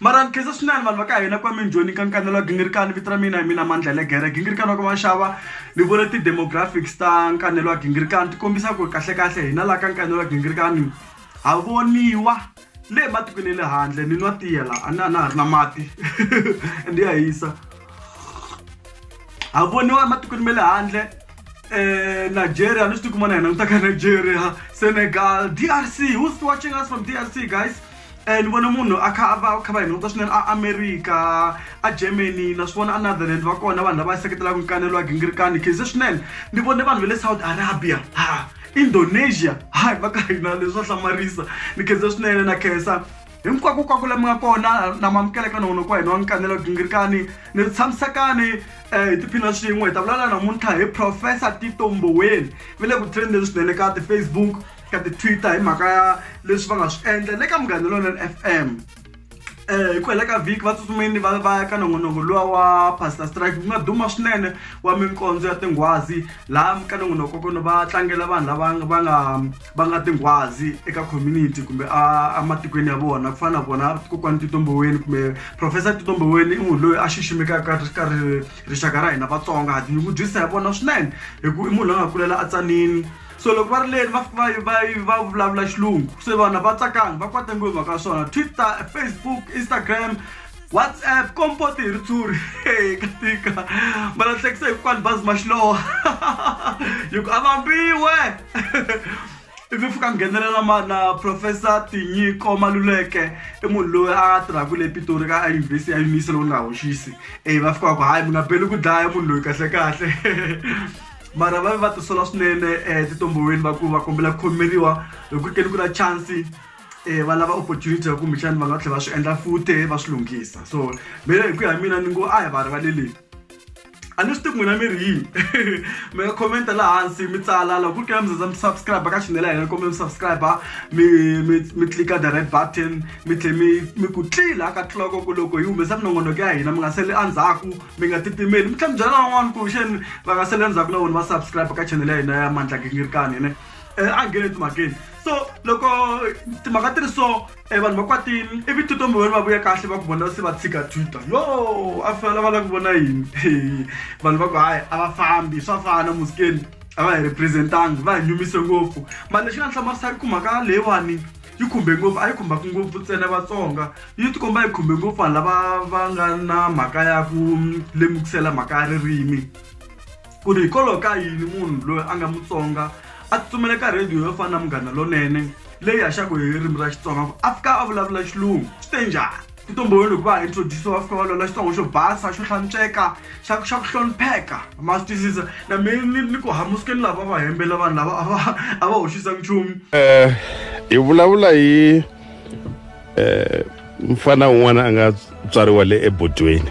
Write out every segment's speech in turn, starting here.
Mara ni khensa swinene vanhu va ka hina kwame njhoni ka nkanelo wa gingirikani vito ra mina hi mina mandla legere gingirikani wa ka vanxava ni vone ti-demographics ta nkanelo wa gingirikani ti kombisa ku ri kahlekahle hina laha ka nkanelo wa gingirikani ha voniwa le ematikweni ya le handle ni nwa tiya la a na a na ha ri na mati and ya hisa ha voniwa ematikweni ma le handle um nigeria ni swi tikuma na hina ni ta ka nigeria senegal d r c who's watching us from d r c guys um ni vona munhu a kha a va kha va hi nota swinene a america a germany na swi vona anotherland va kona vanhu lava seketelaka nkanelo wa gingirikani khize swinene ni vone vanhu va le saudi arabia ha indonesia hayi va ka hina leswo hlamarisa ni khenze swinene na khensa hinkwako kwako lami nga kona na mamukela ka nona kwa hina wa nkanelo gingirikani ni tshamisekani um hi tiphina swin'we hi ta vulavula namuntlha hi professor titomboweni va le ku trendeni swinene ka ti-facebook ka ti-twitter hi mhaka ya leswi va nga swi endla le ka munghana lonene f m um hi ku hela ka vhiki va tsutsumeni va va ya ka nongonoko luwa wa pastor strike ku nga duma swinene wa minkondzo ya tinghwazi laha ka nongonoko kono va tlangela vanhu lava va nga va nga tinghwazi eka community kumbe ematikweni ya vona ku fana na vona kokwani titomboweni kumbe professor titomboweni i munhu loyi a xiximekaka ka rixaka ra hina vatsonga ha tinyungubyisa hi vona swinene hi ku i munhu loyi a nga kulela a tsanini so loko va ri leni va va va va vulavula xilungu se vana va tsakanga va kwata ngopfu mhaka swona twitter facebook instagram whatsapp kompoti hi ritshuri ka tika ma lahlekisa hikwani bazi ma xilowa hi ku avambiwe ivi fika nghenelela mana professor tinyiko maluleke i munhu loyi a tirhaka le pitori ka ayunivhesi ya yimisi lowu nga hoxisi e va fika va ku hayi mi nga beli ku dlaya munhu loyi kahlekahle mara va ve va tisola swinene um titomboweni va ku va kombela ku khomeriwa hi ku ri ke ni ku na chansi um va lava opportunity ya kumbexani va nga tlhela va swi endla fute va swi lunghisa so mina hi ku ya mina ni ngo a hi va rivaleleni a ni swi tivi n'wina mi ri yini mi nga commenta laha hansi mi tsala loko ku ri kena mi zaza mi subscribe ka chanel ya hina kombela mi subscribe mi mi mi clika the red button mi tlhela mi mi ku tlila ka tliloko ku loko yi humesa minongonoko ya hina mi nga sali endzhaku mi nga titimeli mi tlhela mi byela van'wana ku xeni va nga sele ndzhaku na vona va subscribe ka channel ya hina ya mandla gingirikani ne um a nghene timhakeni so loko timhaka ti ri so um vanhu va kwatini ivi tito mivoni va vuya kahle va ku vona se va tshika twitter yo a fela va lava ku vona yini vanhu va ku hayi a va fambi swa fana musikeni a va hi representangi va hi nyumise ngopfu mali lexi nga ni hlamarisaka ku mhaka leyiwani yi khumbe ngopfu a yi khumbaka ngopfu ntsena vatsonga yi tikomba yi khumbe ngopfu vanhu lava va nga na mhaka ya ku lemukisela mhaka ya ririmi ku ri hikwalaho ka yini munhu loyi a nga mutsonga a tsutsumela ka radio yo fana na munghana lonene leyi haxaka hi ririmi ra xitsonga ku a fika a vulavula xilungu swi te njhani ku tumbululo ku va introduce wa fika va lola xitsongo xo basa xo hlantsweka xa xa ku hlonipheka ma swi twisisa na mi ni ni ku hamusikeni lava va hembela vanhu lava a va a va hoxisa nchumu Eh, hi vulavula hi eh, mfana un'wana a nga tswariwa le ebodweni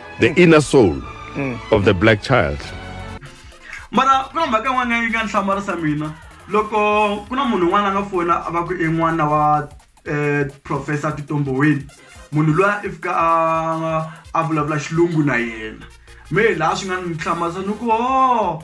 the inner soul mm. of the black child mara ku na mhaka yin'wana yi nga ni hlamarisa mina loko ku na munhu un'wana a nga fona a va ku i n'wana wa um professor titomboweni munhu loyi i fika a a vulavula xilungu na yena me hi laha swi nga ni hlamarisa ni ku o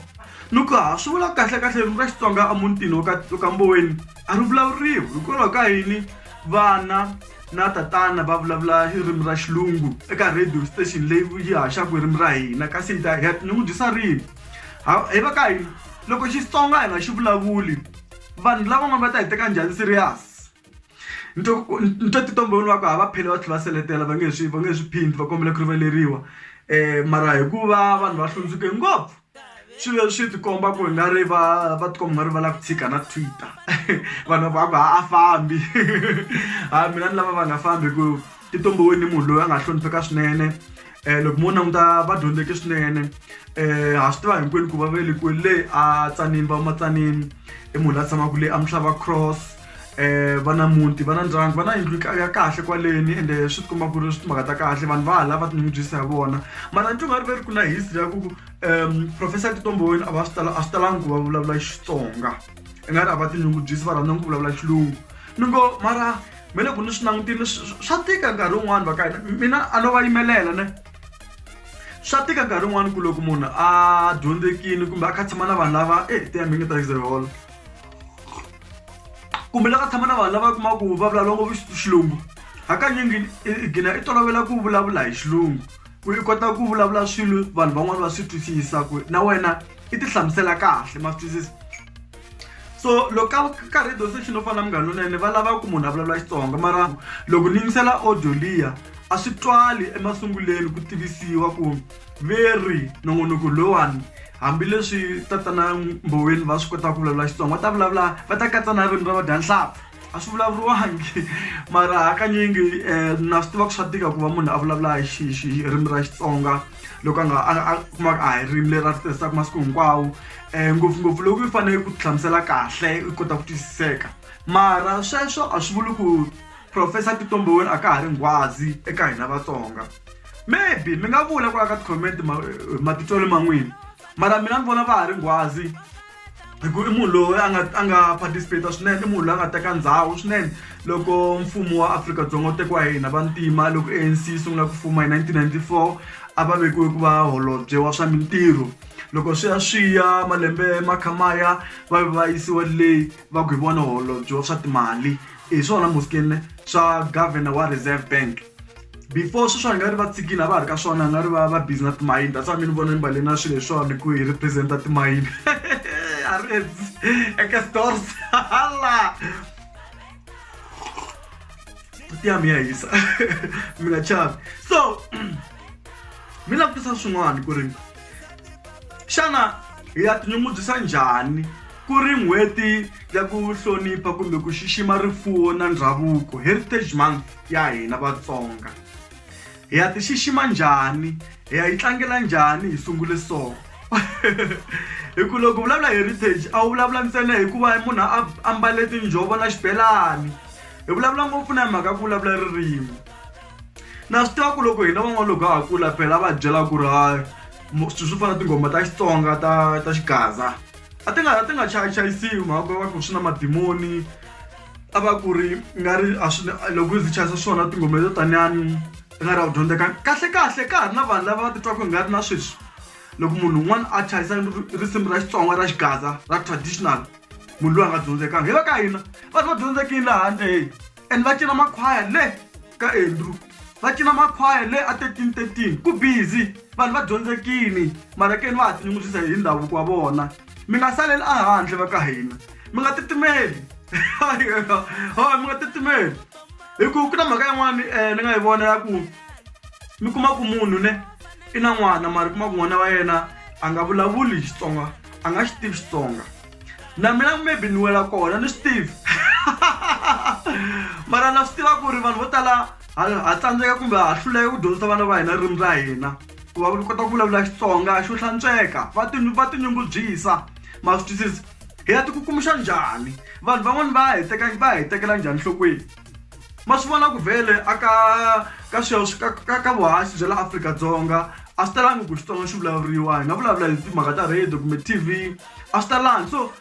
ni ku ha swi vula kahle kahle ririmi ra xitsonga emutini wa ka mboweni a ri vulavuriwi hikwalaho ka yini vana na tatana va vulavula ririmi ra xilungu eka radio station leyi yi haxaka ririmi ra hina kasi ni ta hi ni n'wi dyisa rini hi va ka hina loko xitsonga hi nga xi vulavuli vanhu lavan'wana va ta hi teka njhani serious ni to ni to titombhoni wa ku ha va phele va tlhela va seletela va nge swi va nge swi phindi va kombela ku rivaleriwa um mara hikuva vanhu va hlundzuke ngopfu swilo leswi swi tikomba ku nga ri va va tikomba nga ri va lava ku tshika na twitter vanhu va ku a fambi ha mina ni lava va nga fambi ku ti tumbiwe ni munhu loyi a nga hlonipheka swinene um loko mo languta va dyondzeke swinene um ha swi tiva hinkwenu ku va velekiwe le a tsanini va matsanini i munhu la tshamaka le a mi tlhava cross um va na muti va na ndyangu va na yindlu ya kahle kwaleni ende swi ti komba ku ri swi timhaka ta kahle vanhu va hala va tinyungubyisa hi vona mara ni nga ri ve ri ku na history ya ku ku um professor titomboweni a va swi tala a swi talangi ku va vulavula xitsonga i nga ri a va tinyungubyisi va rhandza ku vulavula xilungu ni ngo mara me le ku ni swi langutile swa tika nkarhi wun'wani va ka hina mina a no va yimelela ne swa tika nkarhi wun'wani ku loko munhu a dyondzekini kumbe a kha tshama na vanhu lava e eh, tiyambingi ta xizeholo kumbe la ka tshama na vanhu lava kuma ku va vulavula ngopfu xilungu hakanyingi i gina i tolovela ku vulavula hi xilungu ku i kota ku vulavula swilo vanhu van'wani va swi twisisa ku na wena i ti hlamusela kahle ma swi twisisa so loko ka ka radio station yo fana na munghana lonene va lava ku munhu a vulavula xitsonga mara loko ni yingisela audio liya a swi twali emasunguleni ku tivisiwa ku ve ri nongonoko lowani hambileswi tatana mboweni va swi kotaka ku vulavula xitsonga va ta vulavula va ta katsa na ririmi ra vadyanhlapfu a swi vulavuriwangi mara hakanyingi um na swi tiva ku swa tika ku va munhu a vulavula hi xi xi ririmi ra xitsonga loko a nga a kumaka a hi ririmi leri a ri tirhisaka masiku hinkwawo um ngopfungopfu loko yi fanele ku hlamusela kahle u kota ku twisiseka mara sweswo a swi vuli ku Professor Tito Mboweni a ka ha ri nghwazi eka hina Vatsonga. Maybe mi nga vula kwala ka ti-comment matitwelo ma n'wina mara mina ni vona va ha ri nghwazi hi ku i munhu loyi a nga a nga participate swinene i munhu loyi a nga teka ndhawu swinene loko mfumo wa Afrika-Dzonga wu tekiwa hi hina vantima loko ANC yi sungula ku fuma hi 1994 a va vekiwe ku va holobye wa swa mintirho loko swi ya swi ya malembe ma kha ma ya va va yisiwa le va ku hi vona holobye wa swa timali hi swona muskini swa governor wa reserve bank before sweswo a nga ri va tsikile a va ha ri ka swona a nga ri va va busy na timayini that's why mi ni vona ni mbale na swilo hi swona ku hi representa timayini a ri eka stores hala buti ya mi ya hisa mi nga chavi so mi langutisa swin'wana ku ri xana hi ya tinyungubyisa njhani Ku ri n'hweti ya ku hlonipha kumbe ku xixima rifuwo na ndhavuko heritage month ya hina Vatsonga hi ya ti xixima njhani hi ya yi tlangela njhani hi sungule so hi ku loko vulavula heritage a wu vulavula ntsena hikuva munhu a ambale tinjhovo na xibelani hi vulavula ngopfu na hi mhaka ku vulavula ririmi na swi tiva ku loko hina van'wana loko ha kula phela va byela ku ri ha swilo swo fana na tinghoma ta Xitsonga ta ta xigaza. a ti nga a ti nga chayachayisiwi mhaka va ku swi na madimoni a va ku ri nga ri a swi loko ndzi chayisa swona tinghoma to taniani ti nga ri a ku dyondzeka kahle kahle ka ha ri na vanhu lava va titwaka hi nga ri na sweswi loko munhu un'wana a chayisa risimu ra xitsonga ra xigaza ra traditional munhu loyi a nga dyondzekanga hi va ka hina vanhu va dyondzekile laha handle heyi and va cina makhwaya le ka andrew va cina makhwaya le a 1313 ku busy vanhu va dyondzekini malekeni va ha tinyungubyisa hi ndhavuko wa vona mi nga saleli ehandle va ka hina mi nga titimeli hoy mi nga titimeli hi ku ku na mhaka yin'wani um ni nga yi vona ya ku mi kuma ku munhu ne i na n'wana mara kuma ku n'wana wa yena a nga vulavuli xitsonga a nga xi tivi xitsonga na mina maybe ni wela kona ni swi tivi mara na swi tiva ku ri vanhu vo tala ha tsandzeka kumbe ha hluleka ku dyondzisa vana va hina ririmi ra hina ku va kota ku vulavula xitsonga xo hlantsweka va va tinyungubyisa ma swi twisisi hi ya tikukumuxa njhani vanhu van'wani va hi teka va hi tekela njhani nhlokweni ma swi vona ku vhele a ka ka sweswi ka ka ka vuhasi bya la afrika-dzonga a swi talangi ku xitsonga xi vulavuriwa hi nga vulavula hi timhaka ta radio kumbe tv a swi talangi so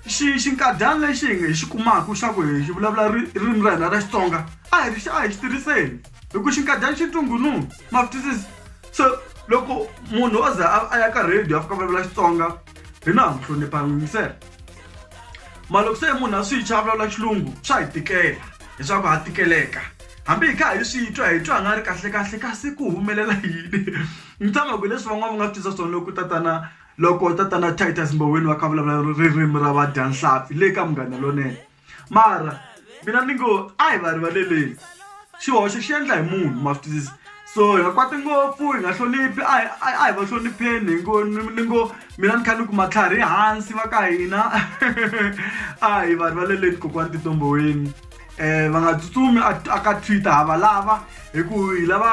xi xinkadyana lexi hi hi xi kumaka xa ku hi xi vulavula ririmi ra hina ra xitsonga a hi ri xa a hi xi tirhiseni hi ku xinkadyana xi ntungununu ma twisisi so loko munhu o ze a ya ka radio a fika vulavula xitsonga hina ha mu hlonipha yingisela mara loko se munhu a swi tshwa a vulavula xilungu swa hi tikela leswaku ha tikeleka hambi hi kha hi swi twa hi twa nga ri kahle kahle kasi ku humelela yini ni tshama ku leswi van'wana va nga swi tisa swona loko tatana loko tatana Titus Mboweni va kha vulavula ririmi ra vadyanhlampfi le ka Munghana Lonene mara mina ni ngo a hi va rivaleleni xihoxo xi endla hi munhu ma swi twisisa so hi nga kwati ngopfu hi nga hloniphi a hi a hi va hlonipheni hi ngo ni ngo mina ni kha ni ku matlhari hansi va ka hina a hi va rivaleleni kokwani tintomboweni eh va nga tsutsumi aka twitter hava lava hi ku hi lava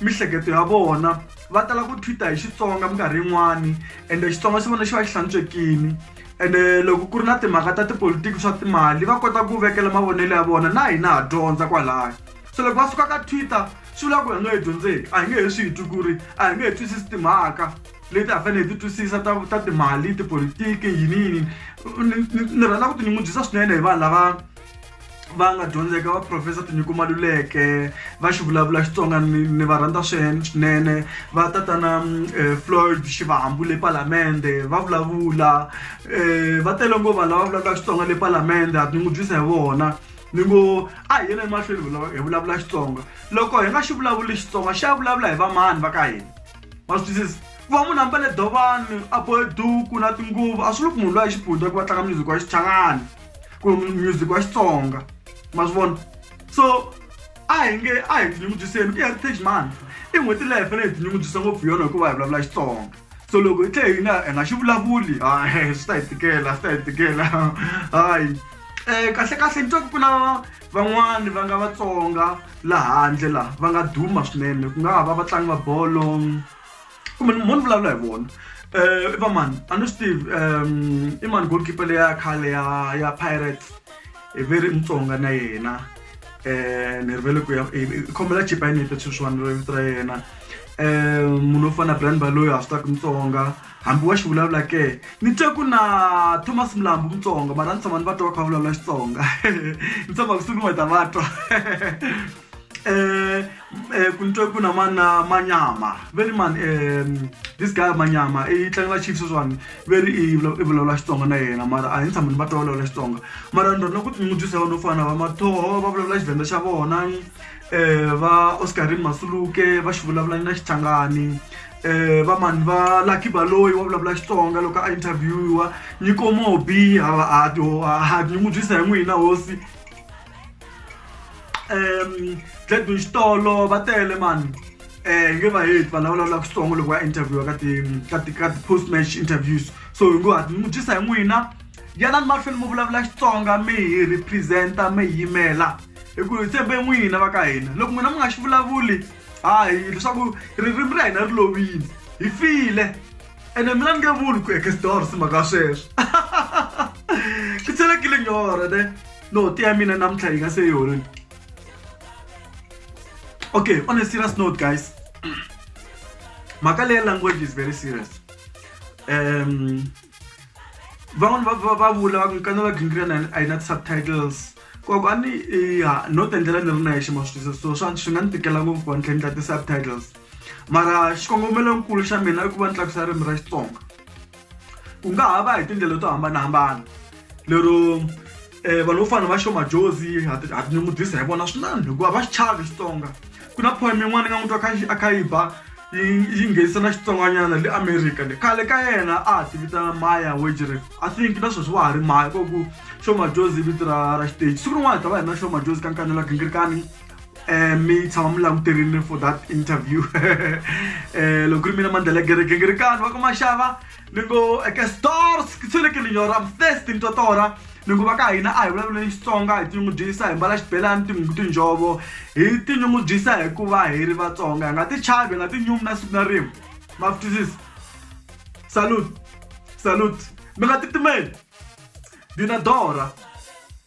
mihleketo ya vona va tala ku twitter hi xitsonga minkarhi yin'wani ende xitsonga xi vona xi va xi hlantswekini ene loko ku ri na timhaka ta tipolotiki swa timali va kota ku vekela mavonelo ya vona na hina ha dyondza kwalaya so loko va suka ka twitter swi vula ku hi nga yi dyondzeki a hi nge he swi hi twi ku ri a hi nge he twisisi timhaka leti a fanele hi ti twisisa ta ta timali tipolotiki yini yini ni ni ni rhandza ku tinyungubyisa swinene hi vanhu lava va nga dyondzeka va profesa tinyiko maluleke va xi vulavula xitsonga ni va rhandza swinene va tatana mm, eh, floyd xivahambu le palamende va vulavula um va tele ngo vanhu lava vulavulaka xitsonga le palamende ha tinyungubyisa hi vona ni ngo a hi yena emahlweni hi vulavula xitsonga loko hi nga xi vulavuli xitsonga xi ya vulavula hi vamani va ka hina va swi twisisa ku va munhu ambale dovani a bohe duku na tinguvu a swi loko munhu loyi a xipundza ku va tlanga music wa xichangani ku music wa xitsonga ma swi vona so a hi nge a hi tinyungubyiseni ku ya ri page man i n'hweti leyi hi fanele hi tinyungubyisa ngopfu yona hikuva hi vulavula xitsonga so loko hi tlhe hina hi nga xi vulavuli hayi swi ta hi tikela swi ta hi tikela hayi um kahle kahle ni twa ku ku na van'wani va nga vatsonga laha handle laha va nga duma swinene ku nga ha va vatlangi va bolo kumbe ni mhoni vulavula hi vona um i vamani a ni swi tivi um i mani goalkeeper leya khale ya ya pirates i ve ri mutsonga na yena um ni rivele ku ya khomela chipa yini yete sweswiwani ro vito ra yena um munhu wo fana na brand baloyi ha swi taku mutsonga hambi wa xi vulavula ke ni twe ku na thomas mlambu mutsonga mara ni tshama ni va twa va kha va vulavula xitsonga ni tshama kusuku ni va ta va twa eh eh kunto kuna mana manyama very man um this guy manyama i tlangela chiefs swani very i vulavula xitsonga na yena mara a hi tshama ni va twa vulavula xitsonga mara ni rhandza ku tinyungubyisa vanhu vo fana va mathoho va vulavula xivenda xa vona um va oscarin masuluke va xi vulavula na xichangani um va mani va lucky baloyi wa vulavula xitsonga loko a interviewiwa nyiko mobi ha ha ha tinyungubyisa hi n'wina hosi um gladwin xitolo va tele mani um nge va heti vanhu lava vulavulaka xitsongo loko va interviewa ka ti ka ti ka ti-post match interviews so hi ngo hati n'wi dyisa hi n'wina yanani mahlweni mi vulavula xitsonga mi hi representa mi hi yimela hi ku hi tshembe n'wina va ka hina loko n'wina mi nga xi vulavuli hayi leswaku ririmi ra hina ri lovile hi file ene mina ni nge vuli ku ekesdors mhaka sweswo ku tshelekile nyora ne note ya mina namuntlha yi nga se yi hololi okay on a serious note guys mhaka leyi language is very serious um van'wana va va va vula va ku nkana va gingirya na a yi na ti-subtitles koko a ni ya no tendlela ni ri na yexe ma swi twisisa so swa swi nga ni tikela ngopfu ku va ni tlhe ni tla ti-subtitles mara xikongomelo nkulu xa mina i ku va ni tlakusa ririmi ra xitsonga ku nga ha va hi tindlela to hambanahambana lero um vanhu vo fana va xomajozi ha tinyungubyisa hi vona swinene hikuva va xi chavi xitsonga ku na poem yin'wana ni nga n'wi twa kha a kha yi ba yi nghenisa na xitsongwanyana le america le khale ka yena a ha ti vitana maya wejere i think na sweswi wa ha ri maya koku xomajozi vito ra ra xiteji siku rin'wana hi ta va hi ri na xomajozi ka nkanela gingirikani Eh, mi tshama mi languterile for that interview eh, loko ri mina mandlela ya gereke ngi ri kani va ku maxava ni ngo eke stores ki tshweleke linyora am thirsty ni twa tora ni ngo va ka hina a hi vulavuleni xitsonga hi tinyungubyisa hi mbala xibelani tinhungu tinjhovo hi tinyungubyisa hikuva hi ri vatsonga hi nga ti chavi hi nga ti nyumi na siku na rin'we ma ftisisi salute salute mi nga titimeli dinadora